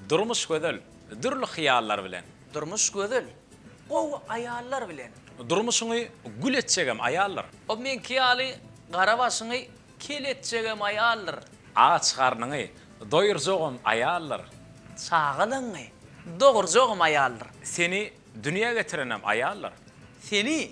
Durmuş gözel, dürli hyýallar bilen. Durmuş gözel, gowy aýallar bilen. Durmuşyňy gül etjegem aýaldyr. O meňki ýaly gara başyňy kel etjegem aýaldyr. Aç garnyňy doýurjagam aýaldyr. Çagalaňňy dogurjagam aýaldyr. Seni dünýä getirenem aýaldyr. Seni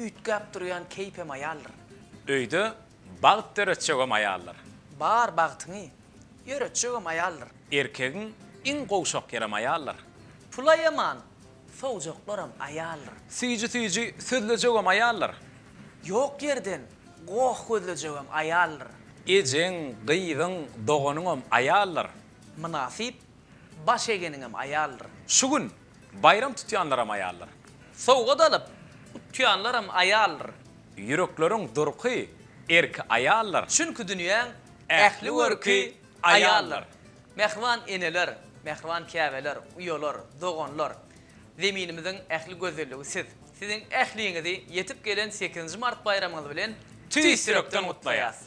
Üýtgäp durýan keýpem aýaldyr. Öýde bagt döretjegem aýaldyr. Bar bagtyňy ýöretjegem aýaldyr. Erkegiň iň gowşak ýerem aýaldyr. Pula ýaman sowjaklaram aýaldyr. Süýji-süýji sözlejegem aýaldyr. Ýok ýerden goh gözlejegem aýaldyr. Ejeň, gyzyň, doganyňam aýaldyr. Mynasyp Baş egeniňem aýaldyr. Şu gün baýram tutýanlaram aýaldyr. Sowgat alyp, utýanlaram aýaldyr. Ýürekleriň durky, erki aýaldyr. Çünki dünýäň ähli görki aýaldyr. Mähriban eneler, mähriban käbeler, uýalar, doganlar, Zeminimiziň ähli gözelligi siz. Siziň ähliňizi ýetip gelen sekizinji mart baýramyňyz bilen tüýs ýürekden gutlaýas!